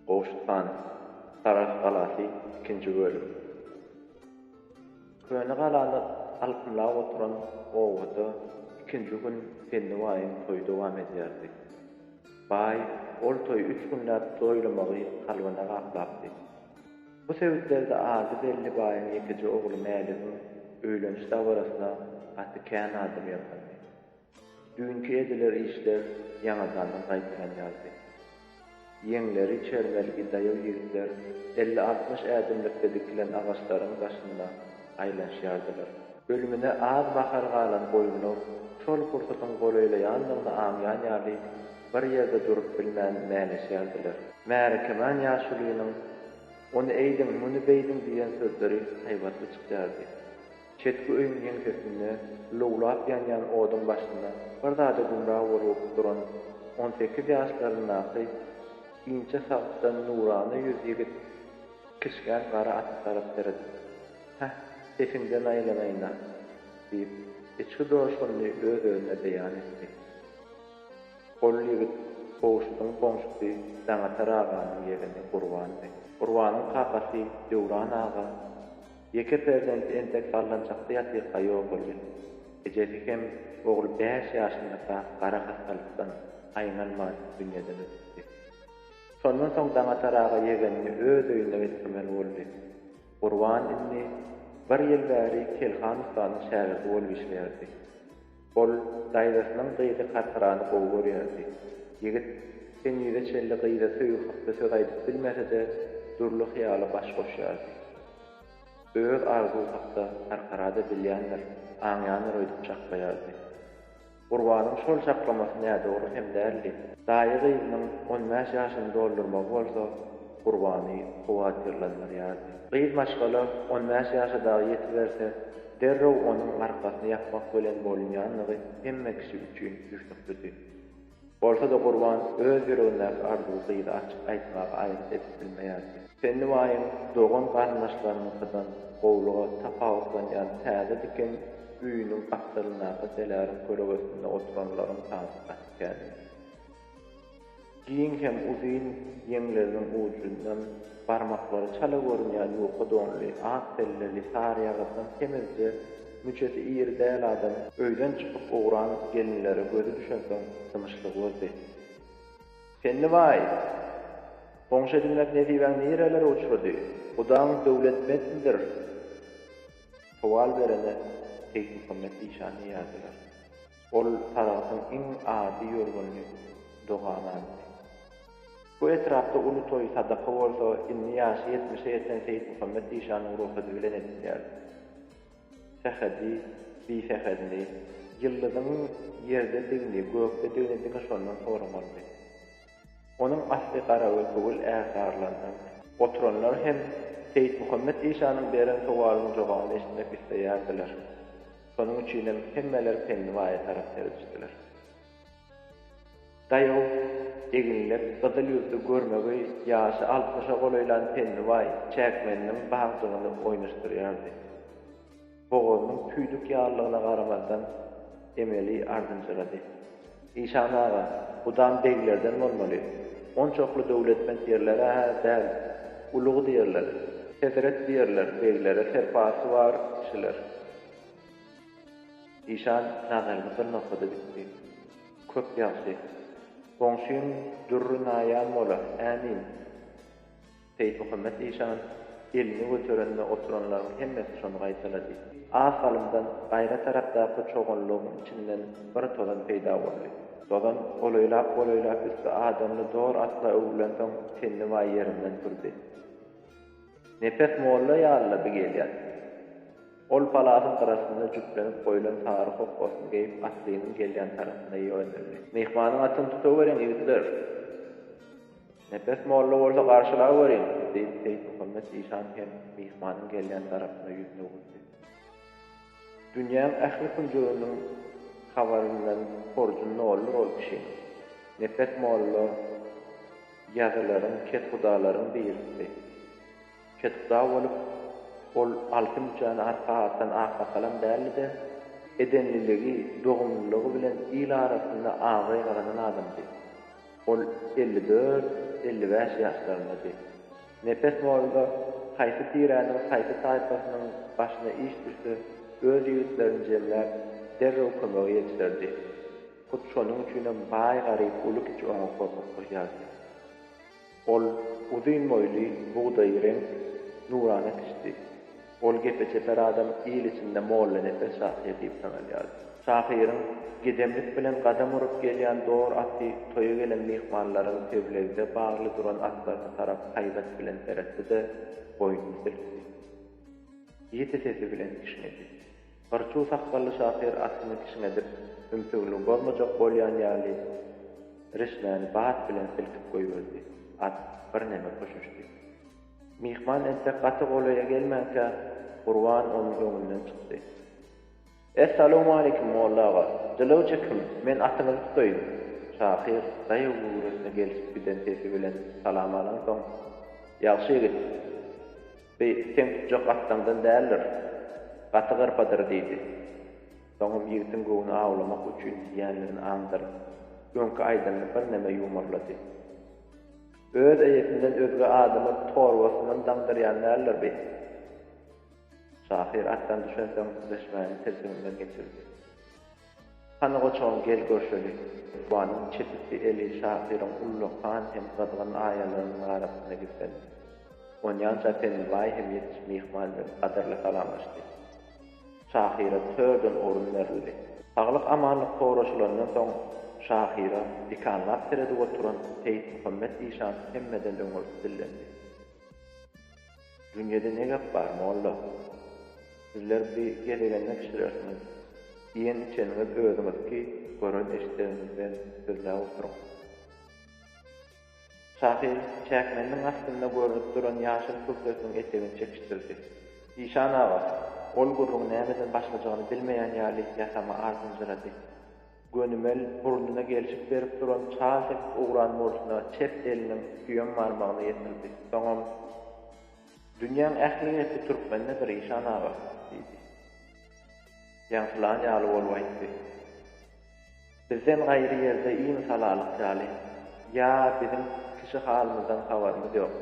Gowşut han, Sarahs galasy, ikinji bölüm. Köne galany alkymlap oturan obada ikinji gün Pelli baýyň toýy dowam edýärdi. Baý ol toýy üç günläp toýlamagy kalbyna gaplapdy. Bu sebitlerde ady belli baýyň ýekeje ogly Mäligiň öýleniş dabarasyna gaty kän adam ýygnandy. Düýnki ediler işler ýaňadandan gaýtaran ýalydy. Ýeňleri çermelgi daýaw ýigitler elli-altmyş ädimlikde dikilen agaçlaryň daşynda aýlanyşýardylar. Ölümine az mahal galan goýunlar şol pursatyň golaýlaýandygyny aňýan ýaly bir ýerde durup bilmän mäleşýärdiler. Märekeman ýaşulynyň Ony eýdiň, muny beýdiň diýen sözleri haýbatly çykýardy. Çetki öýüň ýeňsesinde lowlap ýanýan oduň başynda bir zada gümra bolup duran on sekiz ýaşlaryndaky inçe sagykdan nurana ýüz ýigit kiçgän gara ata tarap seredip, Häh, sesiňden aýlanaýyn-a! diýip, içki joşgunyny öz-özüne beýan etdi. Ol ýigit Gowşudyň goňşusy Daňatar aganyň ýegeni Gurbandy. Gurbanyň kakasy Döwran aga Ýeke perzenti entek sallançakda ýatyrka ýok bolýar. Ejesi hem ogly bäş ýaşyndaka gara hassalykdan aýňalman dünýeden ötüpdi. Şondan soň Daňatar aga ýegenini öz öýüne getirmeli boldy. Gurban indi bir ýyl bäri Kelhan ussanyň şägirdi bolup işleýärdi. Ol daýzasynyň gyzy Karkarany gowy görýärdi. Ýigit henize çenli gyza söýgi hakda söz aýdyp bilmese-de, dürli hyýala baş goşýardy. Öz arzuwy hakda Karkara-da bilýändir, aňýandyr öýdüp çaklaýardy. Gurbanyň şol çaklamasy nädogry hem däldi. Daýy gyzynyň on bäş ýaşyny doldurmagy bolsa, Gurbany howatyrlandyrýardy. Gyz maşgala on bäş ýaşa dagy ýetiberse, derrew onuň arkasyny ýapmak bilen bolunýandygy hemme kişi üçin düşnüklidi. Bolsa-da Gurban öz ýüregindäki arzuwy gyza açyk aýtmaga aýgyt edip bilmeýärdi. Pennibaýyň dogan-garyndaşlarynyňkydan gowulyga tapawutlanýan täze diken öýüniň gapdalyndaky seläriň köregesinde oturanlaryň sany gaty kän idi. Giň hem uzyn ýeňleriniň ujundan barmaklary çala görünýän ýuka donly, ak selleli, sary ýagyrdan semizje, müçesi iri däl adam öýden çykyp ugran gelinlere gözi düşensoň dymyşlygy bozdy. Pennibaý! Goňşy edinmek nesibäň nirelere uçrady? Gudaň döwletmentmidir? Sowal berene Seýitmuhammet işan diýýärdiler. Ol Saragtyň iň ady ýörgünli dogananydy. Bu etrapda uly toý, sadaka bolsa indi ýaşy ýetmişe ýeten Seýitmuhammet Dişanyň rugsady bilen edilýärdi. Sähedi, bisähedini, ýyldyzyň ýerdedigini, gökdedigini diňe şondan soramaldy. Onuň asly Garagülpugul ärsarlandan. Oturanlar hem Seýitmuhammet işanyň beren sowalynyň jogabyny eşitmek isleýärdiler. Şonuň üçinem hemmeler Pennibaýa tarap seredişdiler. Daýaw, eginlek, gyzyl ýüzli, görmegeý, ýaşy altmyşa golaýlan Pennibaý çäkmeniniň bagjygyny oýnaşdyrýardy. Bogazynyň tüýdük ýalylygyna garamazdan, emeli ardynjyrady. Işan aga, gudam beglerden bolmaly. Onçakly döwletment ýerler-ä däl. Ulug diýerler. Hezret diýerler, beglere serpasy bar kişiler. Işan nazaryny bir nokada dikdi. Köp ýagşy. Goňşyň dürri naýan bola, ämin. Seýitmuhammet işan elini göterende oturanlaryň hemmesi şony gaýtalady. Az salymdan gaýra tarapdaky çoganlygyň içinden bir tozan peýda boldy. Tozan golaýlap-golaýlap üsti adamly dor atla öwrülensoň tennibaý ýerinden turdy. Nepes molla ýalylady gelýän. Ol palasyň gyrasynda jüplenip goýlan sary hokgasyny geýip atlynyň gelýän tarapyna ýöneldi. Myhmanyň atyny tutaweriň ýigitler! Nepes molla bolsa garşylaweriň! diýip, Seýitmuhammet işan hem myhmanyň gelýän tarapyna ýüzüni öwürdi. Dünýäň ähli künjeginiň habaryndan horjun noldur ol kişiniň. Nepes molla ýazylaryň, kethudalaryň birisidi. Kethuda bolup, ol alty müçäni arka atan aksakalam däldi-de, edenliligi, dogumlylygy bilen il arasynda abraý gazanan adamdy. Ol elli dört, elli bäş ýaşlaryndady. Nepes boldy-da, haýsy tiräniň, haýsy taýpasynyň başyna iş düşse, öz ýigitlerini jemläp, derrew kömege ýetişerdi. Hut şonuň üçinem baý-garyp, uly-kiçi oňa gorkup durýardy. Ol uzyn boýly, bugdaýy reňk, nurana kişidi. Ol gepe çeper adam il içinde Mollanepes şahyr diýip tanalýardy. Şahyryň gedemlik bilen gadam urup gelýän dor aty toýa gelen myhmanlaryň teblegde bagly duran atlaryna tarap haýbat bilen seretdi-de, boýnuny silkdi. Ýiti sesi bilen kişňedi. Gyrçuw sakgally şahyr atyny kişňedip, ümsügini bozmajak bolýan ýaly, rişmäni bat bilen silkip goýberdi. At birneme köşeşdi. Myhman entek gaty golaýa gelmänkä, Gurban onuň öňünden çykdy. Essalowmaleýkim, molla aga! Jylawja kim? Men atyňyzy tutaýyn! Şahyr daýaw göwresine gelşip giden sesi bilen salam alansoň, Ýagşy ýigit, bi seň tutjak atdaňdan däldir. Gaty gyrpadyr, diýdi. Soňam ýigitiň göwni awlamak üçin diýýändigini aňdyryp, öňki aýdanyny birneme ýumarlady. Öz eýesinden özge adamy torbasyndan daňdyrýan däldir bi? Şahyr atdan düşen soň süleşmäni tilsiminden geçirdi. Hany goçagym gel görşeli! Lukmanyň çetikli eli şahyryň ullakan hem gyzgyn aýalarynyň arasynda gizlendi. Onýança Pennibaý hem ýetiş myhman bilen gadyrly salamlaşdy. Şahyra törden orun berildi. Saglyk-amanlyk soraşylandan soň, şahyra dikanlap seredip oturan Seýitmuhammet Zişan hemmeden öňürti dillendi. Dünýede ne gep bar, molla? Sizler bi gezegende bişirersiňiz. Iýen-içeniňiz özüňizki, gören-eşidegiňizden sözläp oturyň. Şahyr çäkmeniniň astynda görnüp duran ýaşyl kürtesiniň etegini çekişdirdi. Işan aga ol gürrüňi nämeden başlajagyny bilmeýän ýaly ýasama ardynjyrady. Gönümel burnuna gelşik berip duran çal sepip ugran bolşuna çep eliniň süýem barmagyny ýetirdi. Soňam, Dünýäň ähli gepi türkmendedir, Işan aga! diýdi. Ýaňsylan ýaly bolup aýtdy. Bizden gaýry ýerde iň salalyk ýaly, ýa biziň kişi halymyzdan habarymyz ýok.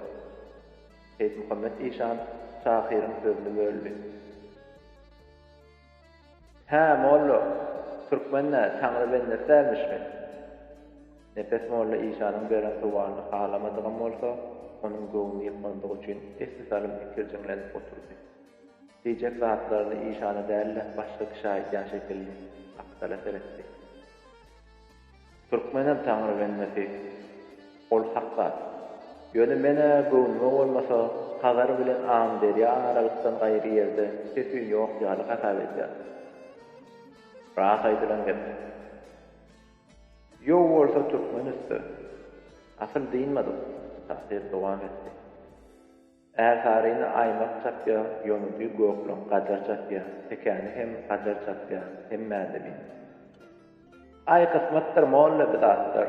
Seýitmuhammet işan şahyryň sözüni böldi. Hä, molla, türkmen-ä Taňry bendesi dälmişmi? Nepes molla işanyň beren sowalny halamadygam bolsa, onuň göwnüni ýykmandygy üçin esli salym ikirjiňlenip oturdy. Diýjek zatlaryny işana däl-de, başga kişä aýdýan şekilli, gapdala seretdi. Türkmenem Taňry bendesi. Ol hak zat. Ýöne men-ä göwnüme bolmasa, Hazar bilen Amyderýa aralykdan gaýry ýerde ses-üýn ýok ýaly hasap edýän. Ras aýdylan gep. Ýow bolsa türkmen üsti. Asyl dynmadyk, Tahyr dowam etdi. Ärsaryny aýmak çapýar, ýonudy gökleň gajar çapýar, tekäni hem gajar çapýar, hemmäde bir. Aý, kysmatdyr, molla, bi zatlar.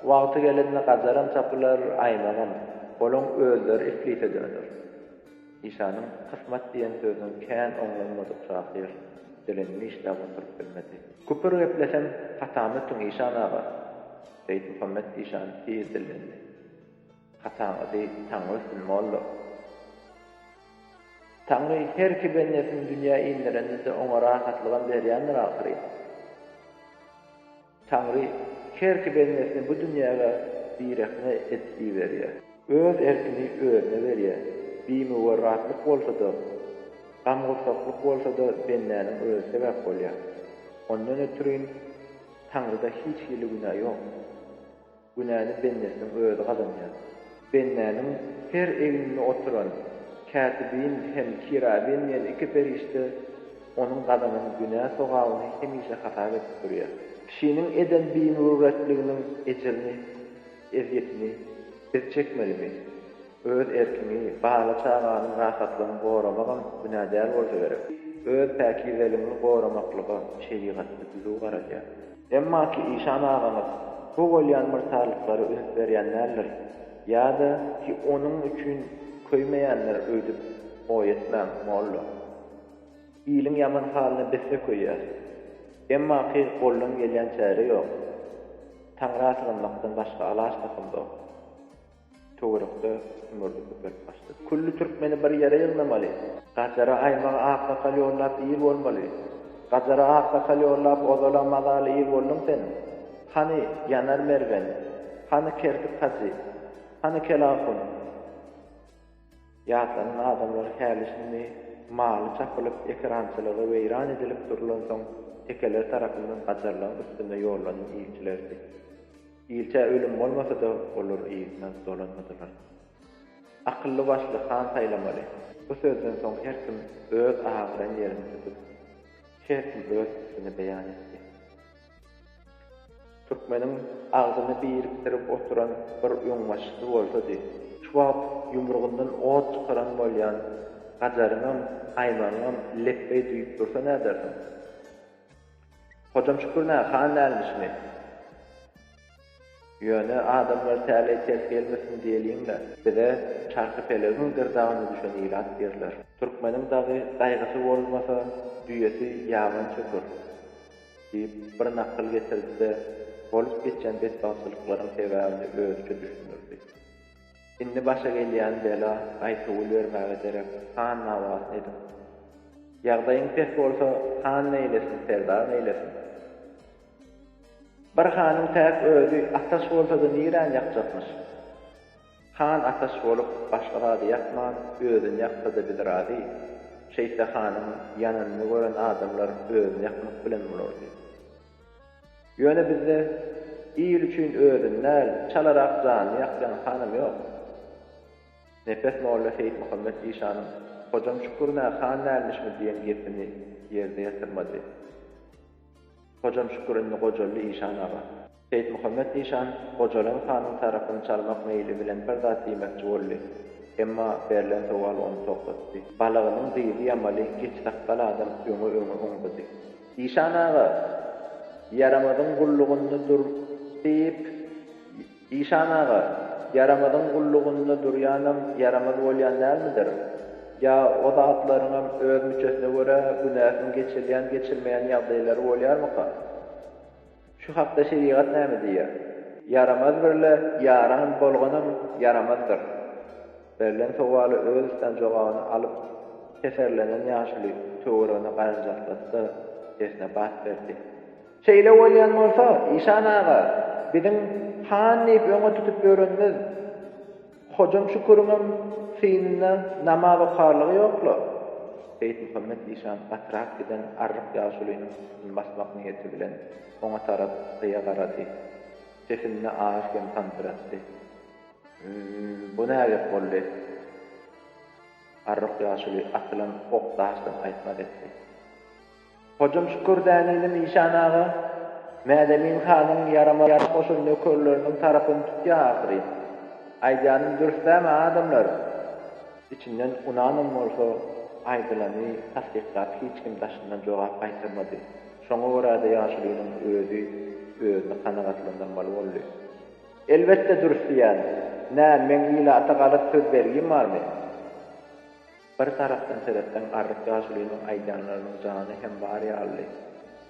Wagty gelende gajaram çapylar, aýmagam. Olaň özleri islise döner. Işanyň kysmat diýen sözüni kän oňlanmadyk şahyr dilini dişläp oturyp bilmedi. Küpür geplesem, hatamy ötüň, işan aga! Seýitmuhammet işan tiz dillendi. Ataň ady Taňrysul molla. Taňry her iki bendesini dünýä inderende-de oňa rahatlygam berýändir ahyryn. Taňry her iki bendesini bu dünýäge birehne edip iberýär. Öz erkini özüne berýär. Bimüwerratlyk bolsa-da, gam-gursaklyk bolsa-da bendäniň özi sebäp bolýar. Ondan ötrin Taňryda hiç hili günä ýok. Günäni bendesiniň özi gazanýar. Bendäniň her egninde oturan kätibin hem kirabin diýen iki perişde onuň gazanan günä sogabyny hemişe hasap edip durýar. Kişiniň eden bimürüwwetliginiň ejirini, ezýetini biz çekmelimi? Öz erkiňi, bala-çagaňyň rahatlygyny goramagam günä däl bolsa gerek. Öz päkizeligiňi goramaklyga şerigatda düzüw garalýar. Emma ki işan agaňyz bu bolýan myrtarlyklara üns berýän däldir, ýa-da ki onuň üçin köýmeýändir öýdüp oý etmäň, molla. Iliň ýaman halyna biz-de köýýäs. Emma ki goldan gelýän çäre ýok. Taňra sygynmakdan başga alaç tapymzok. Töwerekde ümürdi köpelip başlady. Külli türkmeni bir ýere ýygnamaly. Gajara aýmagy aksakal ýollap ir bolmaly. Gajara aksakal ýollap ozal-a mazaly ir bolduň sen. Hany, Ýanar mergen? Hany, Kertik hajy? Hany, Kelahun? Ýaslanan adamlar häli-şindi maly çapylyp, ekerançylygy weýran edilip durlansoň, tekeler tarapyndan gajarlaň üstünde ýollanan ilçilerdi. Ilçä ölüm bolmasa-da, olar yzyna dolanmadylar. Akylly-başly han saýlamaly. Bu sözden soň her kim öz agyran ýerini tutup, her kim öz pikirini beýan etdi. Türkmeniň agzyny birikdirip oturan bir öňbaşçysy bolsady. Şu wagt ýumrugyndan ot çykaran bolýan Gajaryňam, Aýmagyňam lepbeý düýp dursa nädersiň? Hojam Şükür nä, han dälmişmi? Ýöne adamlar täleý ters gelmesin diýeliň-le. Bize Çarhypelegiň gyrdagyna düşen ilat derler. Türkmeniň dagy gaýgysy bolmasa, düýesi ýaban çöker, diýip, bir nakyl getirdi-de, bolup geçen betbagtçylyklaryň sebäbini özüçe düşündirdi. Indi başa gelýän bela gaýta gül bermäge derek, han dawasyny ediň. Ýagdaýyň pes bolsa, han neýlesin, serdar neýlesin? Bir hanyň täk özi ataş bolsa-da niräni ýakjakmyş? Han ataş bolup, başga zady ýakman, özüni ýaksa-da biz razy. Şeýtse hanyň ýananyny gören adamlar özüni ýakmak bilen bolardy. Ýöne bizde il üçin özüni däl, çalarak janyny ýakýan hanam ýok. Nepes molla Seýitmuhammet işanyň Hojam Şükür-nä han dälmişmi diýen gepini ýerde ýatyrmady. Hojam Şükür indi gojaldy işan aga. Seýitmuhammet işan gojalan hanyň tarapyny çalmak meýli bilen bir zat diýmekçi boldy. Emma berlen sowal ony togtatdy. Balagynyň dyzy ýamaly geç sakgal adam öňe-öňe oňzady. Işan aga, Ýaramazyň gullugynda dur diýip, Işan aga, Ýaramazyň gullugynda durýanam ýaramaz bolýan dälmidir? Ýa o zatlaryňam öz müçesine görä günäsiň geçirilýän-geçirmeýän ýagdaýlary bolýarmyka? Şu hakda şerigat näme diýýär? Ýaramaz birle ýaran bolganam ýaramazdyr. Berlen sowaly öz üstän jogabyny alyp, keserlenen ýaşuly töweregine garanjaklady-da, sesine bat berdi. Şeýle bolýan bolsa, işan aga, biziň han diýip öňe tutup ýörenimiz. Hojam Şüküriňem synynda namaz okarlygy ýok-la! Beýtmuhammet işan gatyrak giden arryk ýaşulynyň üstüni basmak niýeti bilen oňa tarap gyýa garady. Sesinde az kem sandyratdy. Ýy-ýy, bu nägep boldy? Arryk ýaşuly atylan ok-daşdan aýtmaz etdi. Hojam Şükür Däneli Mişan aga, Mädemin hanyň ýarama-ýaraş goşan nökerleriniň tarapyny tutýar ahyryn. Aýdýanym dürs-dämi, adamlar? Içinden ynanam bolsa, aýdylany tassyklap hiç kim daşyndan jogap gaýtarmady. Şoňa görä-de ýaşulynyň özi özüni kanagatlandyrmaly boldy. Elbetde dürs diýýän. Nä, meň ilata galat söz bergim barmy? Bir tarapdan seretseň Arryk ýaşulynyň aýdýanlarynyň jany hem bar ýalydy.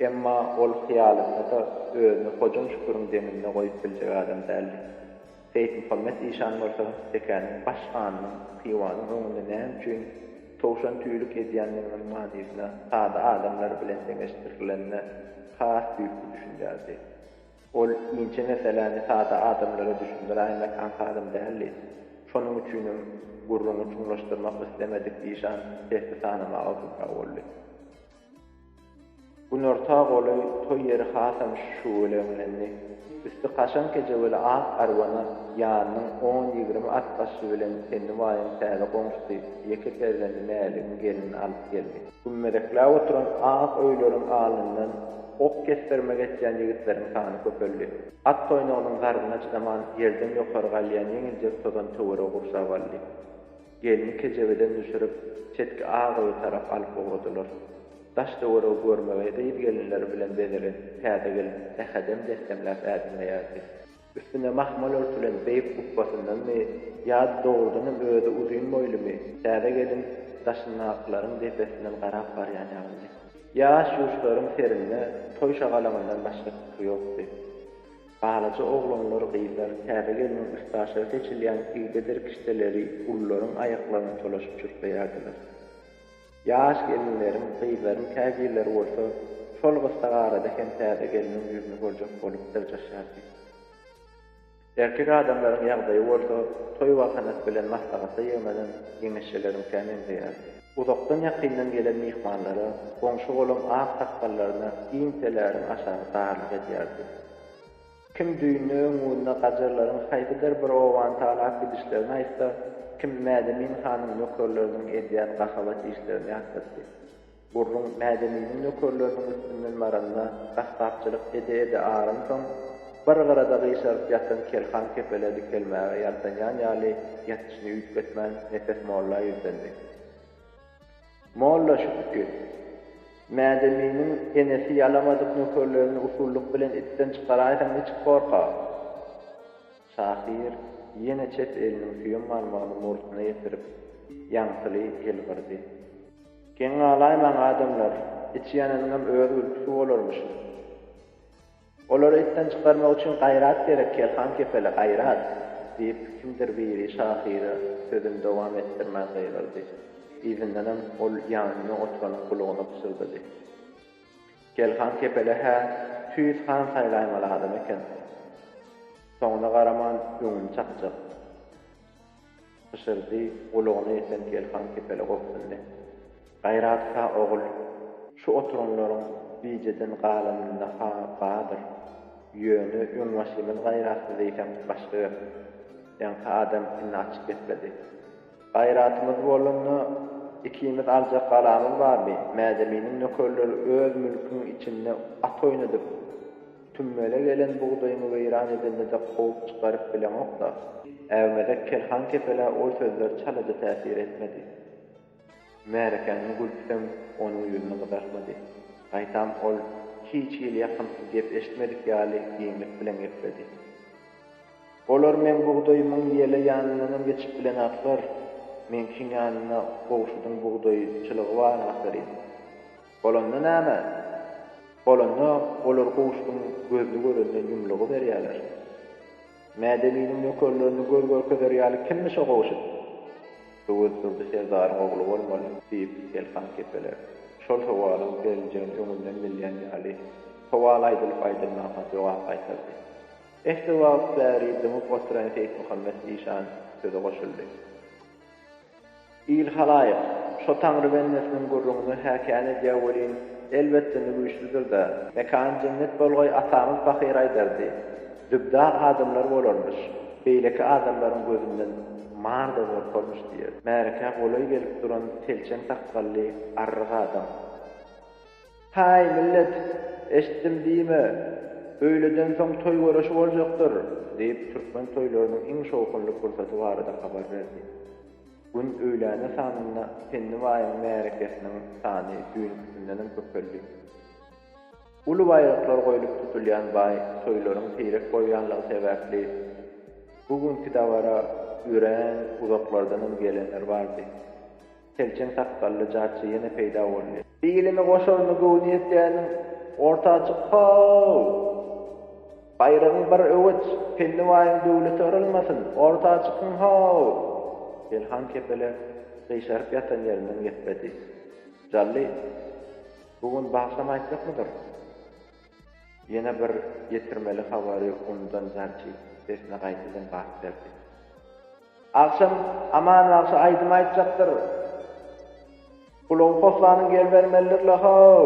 Emma ol hyýalynda-da özüni Hojam Şüküriň deňinde goýup biljek adam däldi. Seýitmuhammet işan bolsa Tekäniň baş hanynyň Hywanyň öňünde näme üçin towşan tüýlük edýändiginiň manysyna sada adamlar bilen deňeşdirilenine has düýpli düşünýärdi. Ol inçe meseläni sada adamlara düşündiräýmek aňsadam däldi. Şonuň üçinem gürrüňi çuňlaşdyrmak islemedik Zişan sesli sanamaga gupra boldy. Günorta golaý toý ýeri hasam şüweleňlendi. Üsti kaşaň kejeweli ak arwana ýanynyň on-ýigrimi at başly bilen Pennibaýyň täze goňşusy, ýeke perzendi Mäligiň gelnini alyp geldi. Gümmezekläp oturan ak öýleriň alnyndan ok kesdirme geçýän ýigitleriň sany köpeldi. At toýnagynyň zarbyna çydaman ýerden ýokary galýan ýeňiljek tozan töweregi gurşap aldy. Gelni kejebeden düşürip, çetki ak öýe tarap alyp ugradylar. Daş-töweregi görmegeý gyz-gelinleri bilen bezelen täze gelin ähedem dessemläp ädinmeýärdi. Üstüne mahmal örtülen beýik gubbasyndanmy ýa-da dogrudanam özi uzyn boýlumy, täze gelin daşyndakylaryň depesinden garap barýan ýalydy. Ýaş ýuşlaryň serinde toý şagalaňyndan başga pikir ýokdy. Balaja oglanlar, gyzlar täze gelniň üstaşyry seçilýän igde-derkişdeleri gullaryň aýaklaryna çolaşyp çürkleýärdiler. Ýaş gelinleriň, gyzlaryň käbirleri bolsa şol gysga arada hem täze gelniň ýüzüni görjek bolup dyrjaşýardy. Erkek adamlaryň ýagdaýy bolsa toý wagthanasy bilen maslahata ýygnanan ýeňeşjeleriňkä meňzeýärdi. Uzakdan-ýakyndan gelen myhmanlara, goňşy-golam ak sakgallaryna giň teläriň aşagy darlyk edýärdi. Kim düýnde öňňunda gajarlaryň haýsydyr bir obany talap gidişlerini aýtsa, kim Mädemin hanyň nökerleriniň edýän gahabat işlerini ýatlatdy. Gürrüň Mädeminiň nökerleriniň üstünden baranda gassapçylyk ede-ede aransoň, bir gyrada gyşaryp ýatan Kerhan kepele dikelmäge ýaltanýan ýaly ýatyşyny üýtgetmän Nepes molla ýüzlendi. Molla Şübki, Mädeminiň enesi ýalamadyk nökerlerini usullyk bilen itden çykaraýsaň niçik gorka? Şahyr ýene çep eliniň süýem barmagyny murtuna ýetirip, ýaňsyly ýylgyrdy. Geň galaýmaň, adamlar, içi ýananyňam öz gülküsi bolarmyşyn. Olary itden çykarmak üçin gaýrat gerek, Kerhan kepele, gaýrat! diýip, kimdir biri şahyra sözüni dowam etdirmän gygyrdy. Yzyndanam ol ýanynda oturanyň gulagyna pyşyrdady. Kerhan kepele, Hä, tüýs han saýlaýmaly adam eken. Soňuna garaman, öňüni çakjak. Pyşyrdy, gulagyna ýeten Telhan kepele gobsundy. Gaýraty-ha, ogul, şu oturanlaryň bijeden galanynda-ha bardyr. Ýöne öňbaşymyz gaýratsyz eýsem, başga gep. Ýaňky adam indi açyk gepledi. Gaýratymyz bolanda, ikimiz aljak galamyz barmy? Mädeminiň nökerleri öz mülküň içinde at oýnadyp, Tümmele gelen bugdaýyňy weýran edende-de kowup çykaryp bileňok-da. Äwmezek Kerhan kepelä ol sözler çalaja täsir etmedi. Märekäniň gülküsem onuň ýüzüni gyzartmady. Gaýtam ol hiç hili ýakymsyz gep eşitmedik ýaly giňlik bilen gepledi. Olar meň bugdaýymyň ýele ýanyndanam geçip bilenaklar. Meňkiň ýanynda gowşudyň bugdaý çylygy bar ahyryn. Bolanda näme? Bolanda olar gowuşgynyň gözli görenden ýumlugy berýärler. Mädewiniň nökerlerini göz görkezer ýaly kimmi şo gowşut? Öwez Durdy serdaryň ogly bolmaly, diýip, Elhan kepele şol sowalyň beriljegini öňünden bilýän ýaly, sowal aýdylyp-aýdylmanka jogap gaýtardy. Esse wagt bäri dymyp oturan Seýitmuhammet işan söze goşuldy. Il-halaýyk, şo Taňry bendesiniň gürrüňini häkäni edýä welin, elbetde indi güýçlüdir-dä. Mekany jennet bolgaý atamyz pahyr aýdardy, Dübdar adamlar bolarmyş, beýleki adamlaryň gözünden mar-da gorkarmyş diýerdi. Märekä golaý gelip duran telçeň sakgally arryk adam. Häý, millet, eşitdim diýme, öýleden soň toý göreşi boljakdyr! diýip, türkmen toýlarynyň iň şowhunly pursaty barada habar berdi. Gün öýläne sanynda Penni baýyň märekesiniň sany düýnkisindenem köpeldi. Uly baýraklar goýlup tutulýan baý toýlaryň seýrek bolýanlygy sebäpli, bu günki dabara örän uzaklardanam gelenler bardy. Selçeň sakgally jarçy ýene peýda boldy. Ilimi goşaryny göwni ýetýäniň orta açyk how! Baýragyň bir öweç, Penni baýyň döwleti yrylmasyn, orta açykyň how! Selhan kepele gyşaryp ýatan ýerinden gepledi. Jally, bu gün bagşam aýtjakmydyr? Ýene bir ýetirmeli habary unudan jarçy sesine gaýtadan bat berdi. Agşam Aman bagşy aýdym aýtjakdyr. Gulagy poslanyň ýer bermelidir-le how!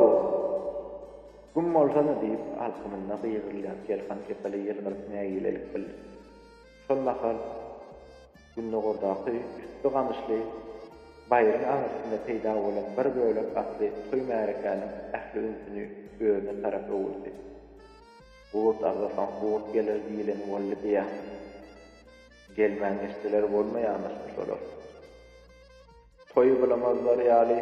Güm bolsana! diýip, alkymynda gygyrylýan Selhan kepele ýylgyryp nägilelik bildirdi. Şol mahal gündogardaky üsti gamyşly baýryň aňyrsynda peýda bolan bir bölek atly toý-märekäniň ähli ünsüni özüne tarap öwürdi. Gurt agzasaň gurt geler diýleni boldy-diýä. Gelmän geçseler bolmaýamyşmy şolar. Toýy bulamazlar ýaly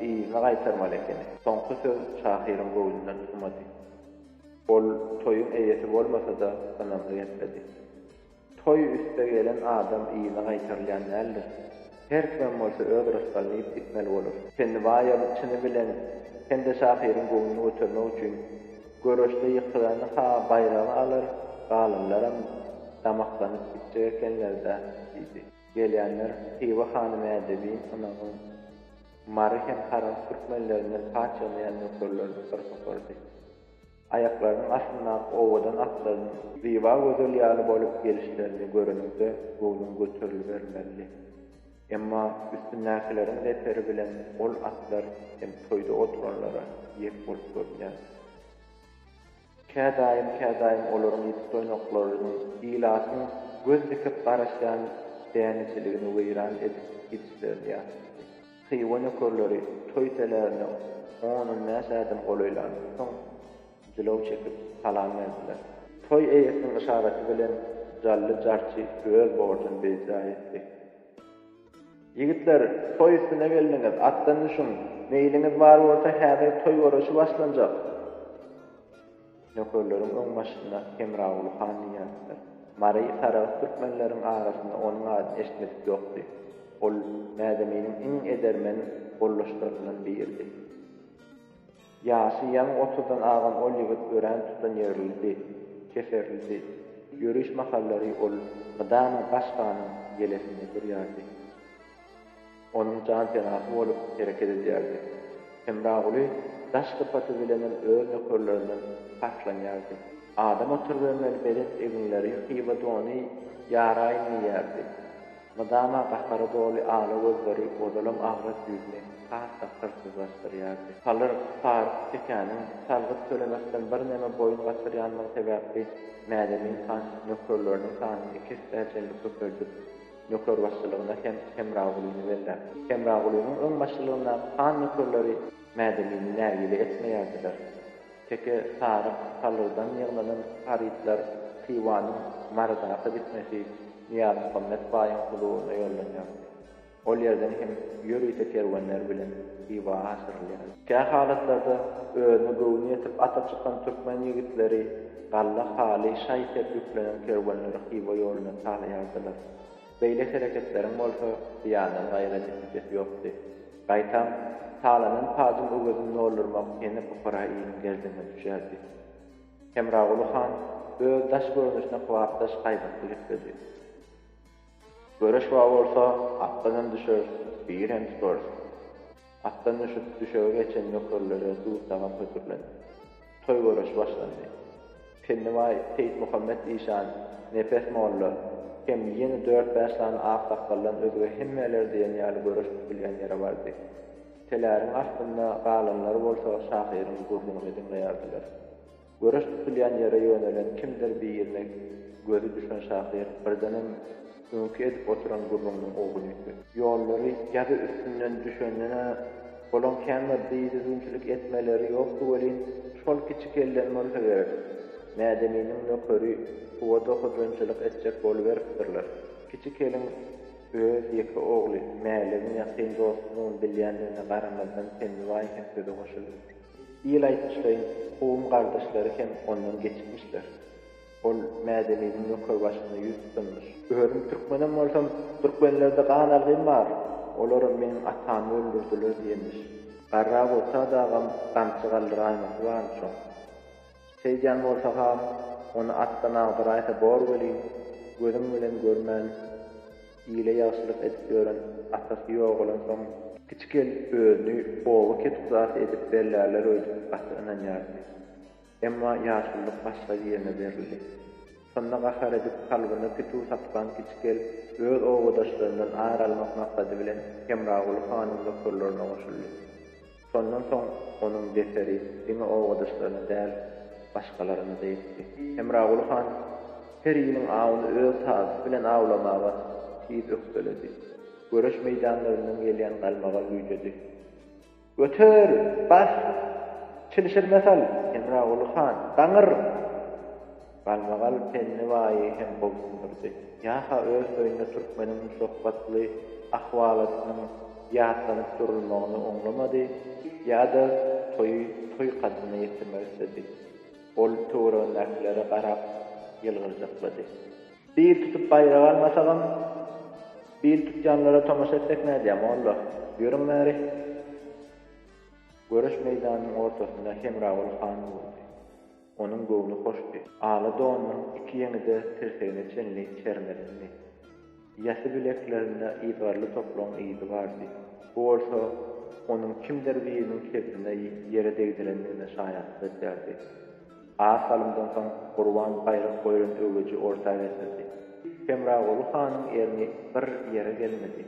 yzyna gaýtarmaly ekeni. Soňky söz şahyryň göwnünden çykmady. Ol toýuň eýesi bolmasa-da ynamly gepledi. Toý üste gelen adam yzyna gaýtarylýan däldir. Her kimem bolsa öz rysgalyny iýip gitmeli bolar. Pennibaýam çyny bilen hem-de şahyryň göwnüni götermek üçin göreşde ýykylany-ha baýragy alar, galanlaram damaklanyp gitjek ekenler-dä, diýdi. Gelýänler Hywa hany Mädebiň, Ynagyň, Mary hem Harans türkmenlerinden paç ýygnaýan nökerlerini bir topardy. Aýaklarynyň astyndaky owadan atlarynyň Zyba gözel ýaly bolup gelişlerini göreniňde göwnüň göterilibermelidi. Emma üstündäkileriň zeperi bilen ol atlar hem toýda oturanlara ýek bolup görünýärdi. Kädaýym-kädaýym olaryň ýiti toýnaklarynyň ilatyň göz dikip garaşýan dänejeligini weýran edip gidişlerini ýatyşdy. Hywa nökerleri toý telärine on-on bäş ädim golaýlandan soň, jylaw çekip, salam berdiler. Toý eýesiniň yşaraty bilen Jally jarçy öz borjuny beýjä etdi. Ýigitler, toý üstüne geldiňiz, atdan düşüň! Meýliňiz bar bolsa, häzir toý göreşi başlanjak! Nökerleriň öň başynda Hemraguly han diýýärdiler. Mary Saragt türkmenleriň arasynda onuň adyny eşitmedik ýokdy. Ol Mädeminiň iň edermen goldaşlaryndan biridi. Ýaşy ýaňy otuzdan agan ol ýigit örän tutanýerlidi, keserlidi. Ýöriş mahallary ol mydama baş hanyň ýelesinde durýardy. Onuň janpenasy bolup hereket edýärdi. Hemraguly daş sypaty bilenem öz nökerlerinden paslanýardy. Adam oturybermeli belent eginleri hywa dony ýaraýyn geýýärdi. Mydama gahara doly ala gözleri ozalam agras ýüzüni has-da hyrsyzlaşdyrýardy. Halyr Faruk tekäniň salgyt tölemekden birneme boýun gaçyrýanlygy sebäpli Mädemin han nökerleriniň sanyny iki essäçenli köpeldip, ýokarbaşçylygyna hem Hemragulyny belläp, Hemragulynyň öňbaşçylygyndaky han nökerleri Mädelini nägile etmeýärdiler. Teke, saryk, salyrdan ýygnanan harytlar Hywanyň Marydaky dikmesi Nyýazmuhammet baýyň huzuryna ýollanýardy. Ol ýerden hem ýörite kerwenler bilen Hywa aşyrylýardy. Kä halatlarda özüne göwni ýetip ata çykan türkmen ýigitleri Galla Haly şaý-sep ýüklenen kerwenleri Hywa ýoluna talaýardylar. Beýle hereketleriň bolsa zyýandan gaýra netijesi ýokdy. Gaýtam, talanan pajyň öwezini doldurmak hene pukara iliň gerdenine düşýärdi. Hemraguly han öz daş görnüşine kybapdaş gaýbatly gepledi. Göreş bar bolsa, atdan hem düşeris, biri hem tutarys. Atdan düşüp, düşege geçen nökerlere duz-tagam hödürlendi. Toý göreşi başlandy. Pennibaý Seýitmuhammet işan, Nepes molla hem ýene dört-bäş sany aksakgaldan özge hemmeler diýen ýaly göreş tutulýan ýere bardy. Teläriň astynda galanlar bolsa şahyryň gürrüňini diňleýärdiler. Göreş tutulýan ýere ýönelen kimdir birine gözi düşen şahyr birdenem öňki edip oturan gürrüňiniň ugruny ýitdi. Ýollary ýazy üstünden düşenden-ä, olaň kän bir didüzgünçilik etmeleri ýokdy welin, şol kiçi kellen bolsa gerek, Mädeminiň nökeri suwada hojanyçylyk etjek boluberipdirler. Kiçi keliň öz ýeke ogly Mäligiň ýakyn dostudygyny bilýändigine garamazdan Tennibaý hem söze goşuldy. Ýyl aýtmyşlaýyn kowum-gardaşlary hem ondan geçipmişler. Ol Mädeminiň ýokary başyna ýüz tutanmyş. Özüm türkmenem bolsam, türkmenlerde gan algym bar, olar meniň atamy öldürdiler diýenmiş. Garra bolsa dagam gamçy galdyraýmasy barmyş oň. Şeýdýän bolsa han, ony atdan agdyraýsa bor welin, gözüň bilen görmän, Ile ýagşylyk edip ýören atasy ýogalansoňam. Kiçi gelin özüni oba ketguzasy edip bellärler öýdüp gaty ynanýardy. Emma ýaşululyk başga birine berildi. Şonda gahar edip kalbyna pituw saplan kiçi gelin öz obadaşlaryndan ar almak maksady bilen Hemraguly hanyň nökerlerine goşuldy. Şondan soň onuň zeperi diňe obadaşlaryna däl, başgalara-da ýetdi. Hemraguly han her ýylyň awuny öz tazysy bilen awlamaga tiz ökdeledi. Göreş meýdanlaryndan gelýän galmagal güýjedi. Göter! Bas! Çilişirme sal! Hemraguly han, gaňyr! Galmagal Penni baýy hem gobsundyrdy. Ýa-ha öz toýunda türkmeniň şöhratly ahwalatynyň ýatlanyp durulmagyny oňlamady, ýa-da toýy toý kadyna ýetirmek isledi. Ol töweregindäkilere garap ýylgyrjaklady. Bil tutup baýrak almasagam, bil tutýanlara tomaşa etsek nädýä, molla? Ýörüň bäri! Göreş meýdanynyň ortasynda Hemragül han durdy. Onuň göwni hoşdy. Ala donunyň iki ýeňi-de tirsegine çenli çermedendi. Ýasy bileklerinde yzgarly topragyň yzy bardy. Bu bolsa, onuň kimdir biriniň kebzine ýere degdirendigine şaýatlyk edýärdi. Az salymdan soň Gurban gaýrat goýlan öweji orta getirdi. Hemraguly hanyň erni bir ýere gelmedi.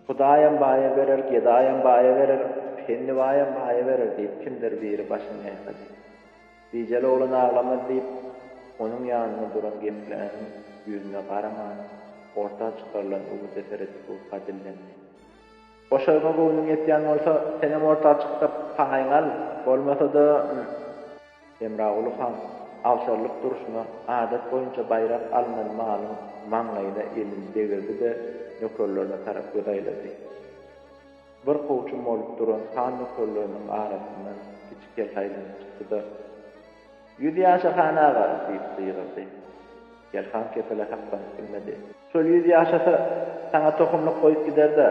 Hudaýam baýa berer, gedaýam baýa berer, pennibaýam baýa berer diýip, kimdir biri başyny ýaýkady. Bijeli oglan aglamaz diýip, onuň ýanynda duran gepläniň ýüzüne garaman, orta çykarylan öwüde seredip Gurka dillendi. Goşaryňa göwnüň ýetýän bolsa, senem orta çykdyr, paýyňy al, bolmasa-da. Hemraguly han agşarlyk durşuna adat boýunça baýrak alnan malyň maňlaýyna elini degirdi-de, nökerlerine tarap göz aýlady. Bir kowçum bolup duran han nökerleriniň arasyndan kiçi kelte aýlanyp çykdy-da, Ýüz ýaşa, han aga! diýip gygyrdy. Kel han kepele saklanyp bilmedi. Şol ýüz ýaşasa, saňa tohumlyk goýup gider-dä!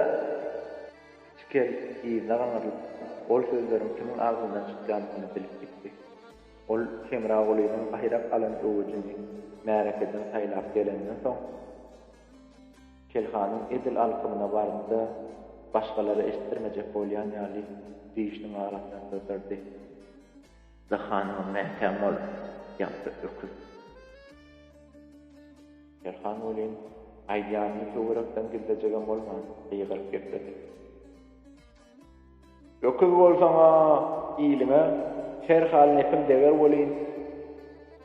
Çikel yzyna gaňrylyp, ol sözleriň kimiň agzyndan çykýandygyny bilip gitdi. Ol Hemragulynyň baýrak alan öwüjini märekeden saýlap gelenden soň, Çikelhanyň edil alkymyna bardy-da, başgalara eşitdirmejek bolýan ýaly, dişiniň arasyndan syrdyrdy. Dahanymyň mäkäm bol, ýagty öküz! Perhan welin, aýdýanyny töwerekden gizlejegem bolman, gygyryp gepledi. Öküz bolsaň-a, iliňe her hal nepin deger welin,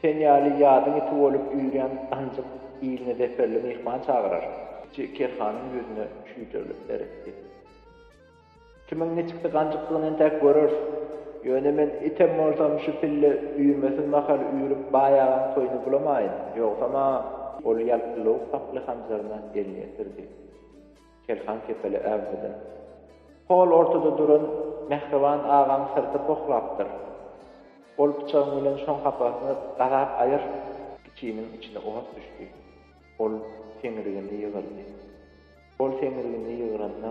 sen ýaly ýadyň iti bolup ýüýrýän ganjyk iline zeperli myhman çagyrar. Kiçi kerhanyň ýüzüne çüýdürilip seretdi. Kimiň niçiksi ganjykdygyny entäk göreris. Ýöne men item bolsam şu pille üýmesiz mahal üýrüp baýagaň toýuny bulamaýyn, ýogsam-a ol ýalpyllawuk saply hanjaryna elini ýetirdi. Kelhan kepeli äwmedi. Hol ortada duran Mähriban agaň syrty pohlapdyr. Ol pyçagyň bilen şoň hapasyny gazap aýyrdy. Kiçiniň içine ot düşdi. Ol seňrigini ýygyrdy. Ol seňňilligini ýygranda,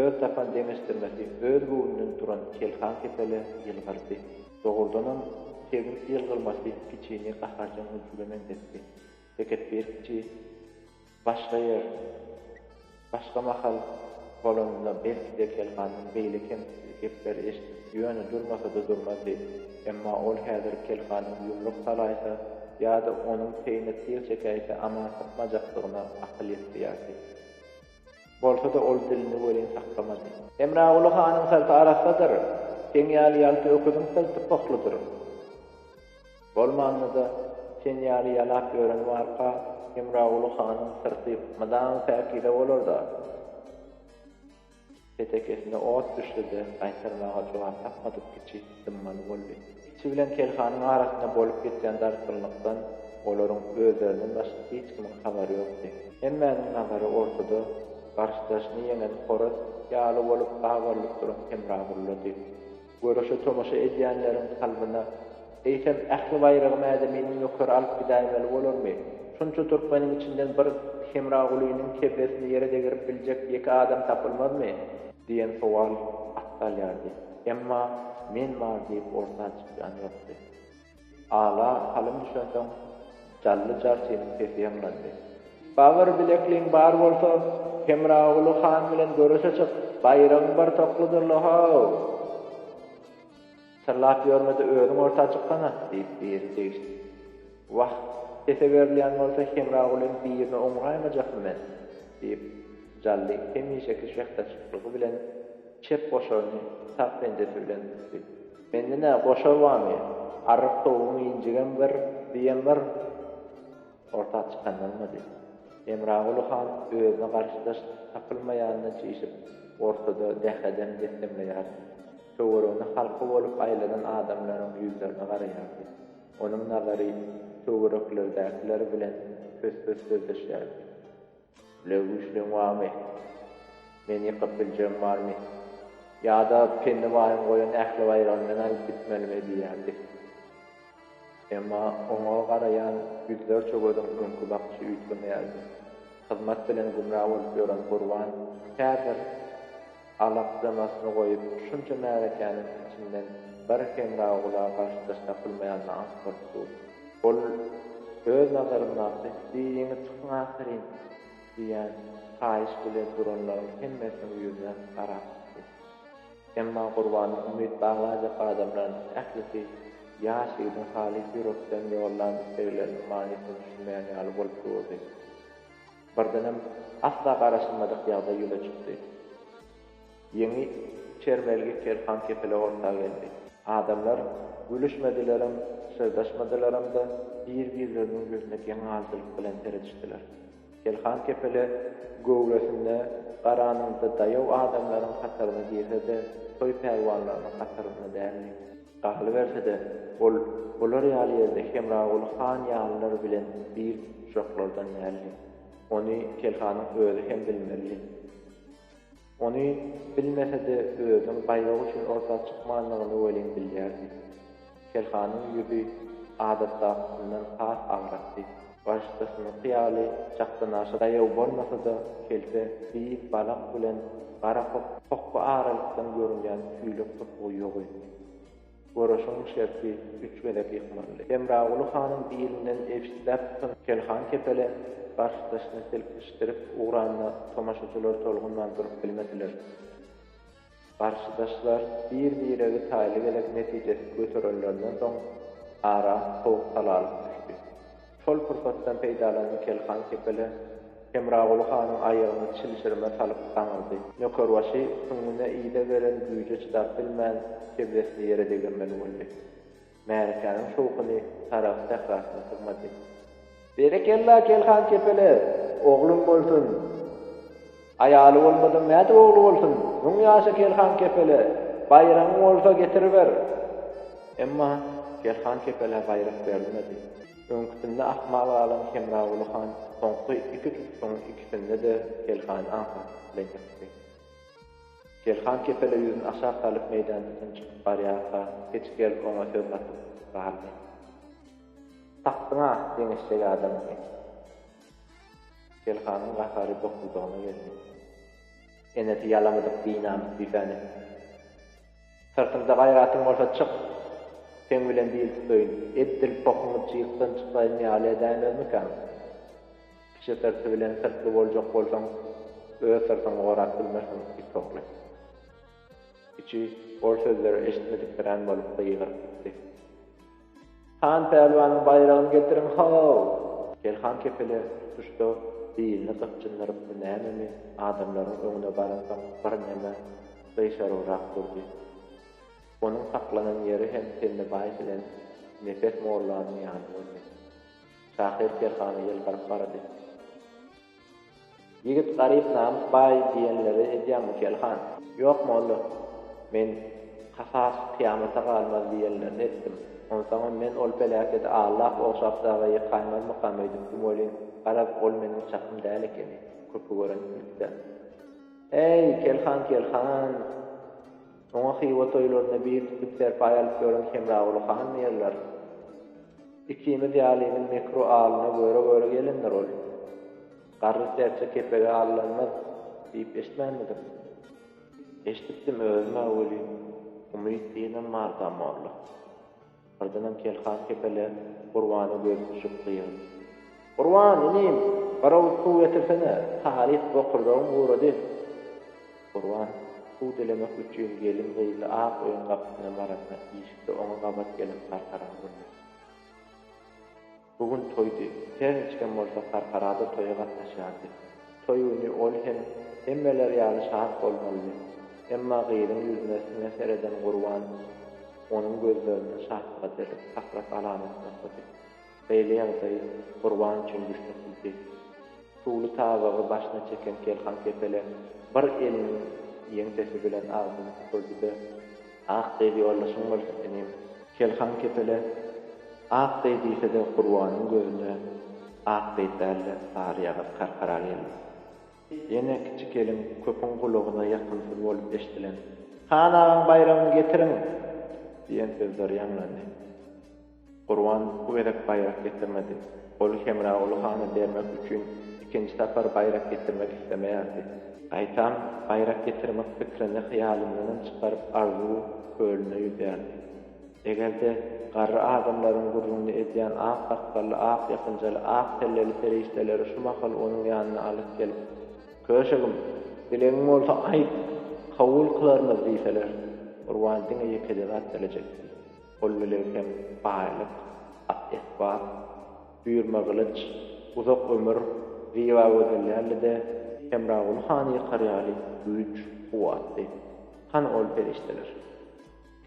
öz tapan deňeşdirmesi öz göwnünden duran Kelhan kepele ýylgyrdy. Dogrudanam, Tebiň ýylgyrmasy kiçini gaharjaň ülçüge meňzetdi. Tekepbir kiçi, başga ýer, başga mahal bolanynda belki-de Kelhandan beýle kemsitli gepleri eşidip, Ýöne durmasa-da durmazdy. Emma ol häzir Kelhanyň ýumruk salaýsa ýa-da onuň peýine syr çekäýse aman sypmajakdygyna akyl ýetdiýärdi. Bolsa-da ol dilini welin saklamady. Hemraguly hanyň syrty arassadyr, seň ýaly ýalty öküziň syrty pohludyr. Bolmanda-da, sen ýaly ýalap ýören barka, Hemraguly hanyň syrty mydama päkize bolar-da. Petekesine ot düşse-de, gaýtarmaga jogap tapmadyk kiçi dymmaly boldy. Kiçi bilen Kelhanyň arasynda bolup geçýän dartgynlykdan olaryň özlerinden başga hiç kimiň habary ýokdy. Hemmäniň nazary ortada garşydaşyny ýeňen horaz ýaly bolup gabarylyp duran Hemragullady. Göreşe tomaşa edýänleriň kalbyna, eýsem, ähli baýragy mäzeminiň ýokary alyp gidäýmeli bolarmy? Şunça türkmeniň içinden bir Hemragulynyň kellesini ýere degirip biljek ýeke adam tapylmazmy? Diýen sowal at salýardy. Emma men bar diýip orta çykýan ýokdy. Ala salym düşensoň, Jally jarçynyň sesi ýaňlandy. Bagyr bilekliň bar bolsa, Hemraguly han bilen göreşe çyk, baýragyň bir tokludyr-la how! Syrlap ýörme-de özüň orta çyksana! diýip, biri degişdi. Wah, sese berilýän bolsa Hemragulyň birine oňraýmajakmy men? diýip, Jally hemişeki şähdaşyklygy bilen çep goşaryny sag penjesi bilen tutdy. Mende nä goşar bamy, arryk towugyň injigem bir, düýem bir. Orta çykanylmady. Hemraguly han özüne garşydaş tapylmaýanyna çişip, ortada dehedem dessemleýärdi. Töweregine halka bolup aýlanan adamlaryň ýüzlerine garaýardy. Onuň nazary töwereklerdäkiler bilen pös-pös sözleşýärdi. Bile güýçligiň barmy? Meni ýykyp biljegiň barmy? Ýa-da Penni baýyň goýan ähli baýragyny men alyp gitmelimi? diýýärdi. Emma oňa garaýan ýüzlerçe gözüň öňki bakyşy üýtgemeýärdi. Hyzmat bilen gümra bolup ýören Gurban häzir Alakjamasyny goýup, şunça märekäniň içinden bir hemra-gula garşydaş tapylmaýanyna aňk bolupdy. Ol öz nazaryndaky Diýiňi çykyň ahyryn! diýýän haýyş bilen duranlaryň hemmesiniň ýüzüne garap çykdy. Emma Gurbanyň umyt baglanjak adamlarynyň ählisi ýaş ýigidiň halys ýürekden ýollan islegleriniň manysyna düşünmeýän ýaly bolup durdy. Birdenem asla garaşylmadyk ýagdaý ýüze çykdy. Ýeňi çermelgi Kerhan kepele orta geldi. Adamlar gülüşmedilerem, pyşyrdaşmadylaram-da, bir-birleriniň ýüzüne geň galdylyk bilen seredişdiler. Kerhan kepele göwresinde garanyňda daýaw adamlaryň hataryna girse-de, toý pälwanlarynyň hatarynda däldi. Galyberse-de, ol olar ýaly ýerde Hemraguly han ýalylar bilen bir duşaklardan däldi. Ony Telhanyň özi hem bilmelidi. Ony bilmese-de, özüň gaýragy üçin orta çykmandygyny welin bilýärdi. Telhanyň ýüzi adatdakysyndan has agrakdy. Başdasynyňky ýaly çakdanaşa daýaw bolmasa-da, kelte beýik balak bilen gara hokga aralykdan görünýän tüýlek topugy ýok etdi. Göreşiň şerti üç gezek ýykmalydy. Hemraguly hanyň bilinden ebşitläp tutan Kelhan kepele garşydaşyny silkişdirip ugranda tomaşaçylar tolgunman durup bilmediler. Garşydaşlar bir-biregi taýly gezek netijesiz göterenlerinden soň, ara sowuk salalyk düşdi. Şol pursatdan peýdalanan Kelhan kepele Hemraguly hanyň aýagyna çilşirme salyp gaňyrdy. Nökerbaşy süňňüne yza gelen güýje çydap bilmän, kebzesini ýere degirmeli boldy. Märekäniň şowhuny Sarahs sährasyna sygmady. Berekella Kelhan kepele, oglum bolsun! Aýaly bolmadyň nädip ogly bolsun? Müň ýaşa Kelhan kepele, baýragyň bolsa getiriber! Emma Kelhan kepelä baýrak berilmedi. Öňküsinde ahmal galan Hemraguly han soňky iki tutuşygyň ikisinde-de Kelhany aňsatlyk bilen ýykdy. Selhan kepele ýüzüni aşak salyp meýdançadan çykyp barýarka, peçik gelip oňa söz gatyp galdy. Tapdyň-a, deňeşjek adamyňy! Selhanyň gahary bokurdagyna geldi. Enesi ýalamadyk binamys düýsäni. Syrtymda gaýratyň bolsa çyk! Seň bilen dil tutaýyn, edil pohuňy jyýkdan çykaýan ýaly edäýmezmikäň? Kiçi syrty bilen syrtly boljak bolsaň, öz syrtyňy gorap bilmersiň, it ogly. Kiçi ol sözleri eşitmedikdirän bolup gygyryp gitdi. Han pälwanyň baýragyny getiriň, ho-w! Kerhan kepele tutuşda bilini gypjyndyrypmy nämemi, adamlaryň öňüne baransoň birneme gyşarygyrak durdy. Onuň saklanan ýeri hem Tennebaý bilen Nepes mollanyň ýany boldy. Şahyr kerhana ýylgyryp barady. Ýigit garyp namys baý diýenleri edýäňmi Kelhan? Ýok molla. Men Kasas kyýamata galmaz diýenlerini etdim. Onsoňam men ol peläkedi Allap ogşap daga ýykaýmazmykam öýdüpdim welin, garaz, ol meniň çakym däl ekeni, köpi görensiňiz-dä. Äý, Kelhan, Kelhan! Oňa Hywa toýlarynda bil tutip serpaý alyp ýören Hemraguly han diýerler. Ikimiz ýalynyň mekru alyna göre-göre gelendir ol. Garry serçe kepege allanmaz diýip eşitmänmidiň? Eşidipdim özüm-ä welin, umyt diýenem mardam molla. Ardynam Kelhan kepele Gurbana göz düşüp gygyryp. Gurban, inim, bir owuz suw getirsene, halys bokurdagym gurady. Gurban, suw dilemek üçin gelin-gyzly ak öýüň gapysyna baranda, işikde oňa gabat gelen Karkaran gürledi. Bu gün toýdy. Her niçigem bolsa Karkarada toýa gatnaşýardy. Toý güni ol hem hemmeler ýaly şat bolmalydy. Emma gyzyň ýüzüne siňe sereden Gurban onuň gözlerinde şatlyga derek hasrat alamat nusady. Beýle ýagdaý Gurban üçin düşnüksizdi. Suwly tabagy başyna çeken Kelhan kepele bir eliniň ýeňsesi bilen agzyny süpürdi-de. Ak deý ýoldaşyň bolsun inim. Kelhan kepele ak deý diýsede Gurbanyň gözüne ak deý dälde sary ýagyz karkara geldi. Ýene kiçi kelin köpüň gulagyna ýakymsyz bolup eşdilen Han agaň baýragyny getiriň! diýen sözler ýaňlandy. Gurban bu gezek baýrak getirmedi. Ol Hemraguly hana bermek üçin ikinji sapar baýrak getirmek islemeýärdi. Gaýtam, baýrak getirmek fikrini hyýalyndanam çykaryp arzuw kölüne ýüzýärdi. Eger-de, garry adamlaryň gürrüňini edýän ak sakgally, ak ýapynjaly, ak selleli perişdeleri şu mahal onuň ýanyna alyp gelip, Köşegim, dilegiň bolsa aýt, kabul kylarmyz diýseler, Gurban diňe ýekeje zat dilejekdi. Ol bilen hem baýlyk, at-esbap, düýrme gylyç, uzak ömür, zyba gözel däldi-de, Hemraguly hany ýykar ýaly güýç, kuwwatdy. Hany ol perişdeler?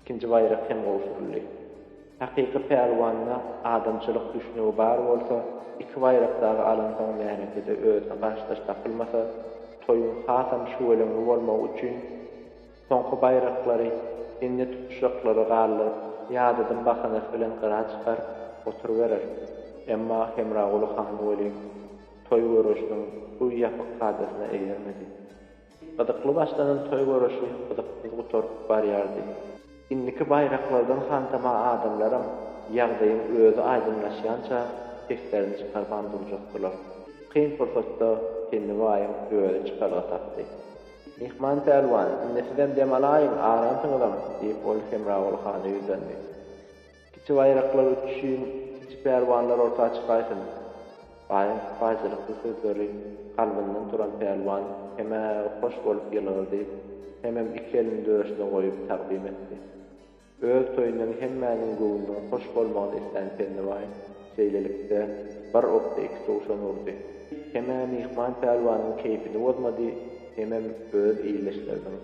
Ikinji baýrak hem gowşuryldy. Hakyky pälwanda adamçylyk düşnügi bar bolsa, iki baýrak dagy alansoň märekede özüne garşydaş tapylmasa, toýuň hasam şüweleňli bolmagy üçin, Soňky baýraklary, indi tutuşaklary galdyryp, ýadadym bahanasy bilen gyra çykaryp oturyberer. Emma Hemraguly han welin, toý göreşiniň bu ýapyk kadasyna eýermedi. Gyzykly başlanan toý göreşi gyzyksyz gutaryp barýardy. Indiki baýraklardan hantama adamlaram ýagdaýyň özi aýdyňlaşýança seslerini çykarman durjakdylar. Kyn pursatda Penni baýyň özi çykalga tapdy. Myhman pälwan, indi sizem dem alaýyň, aransyňyzam, diýip, ol Hemraguly hana ýüzlendi. Kiçi baýraklar uçuşyn, kiçi pälwanlar orta çykaýsyn! Baýyň sypaýyçylykly sözleri kalbyndan turan pälwan hem-ä hoş bolup ýylgyrdy, hemem iki elini döşüne goýup tagzym etdi. Öz toýundan hemmäniň göwnüniň hoş bolmagyny islän Pennibaý şeýlelikde, bir okda iki towşan urdy. Hem-ä myhman pälwanyň keýpini bozmady, hemem öz ildeşleriniň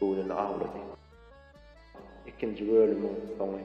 göwnüni awlady. Ikinji bölümiň soňy.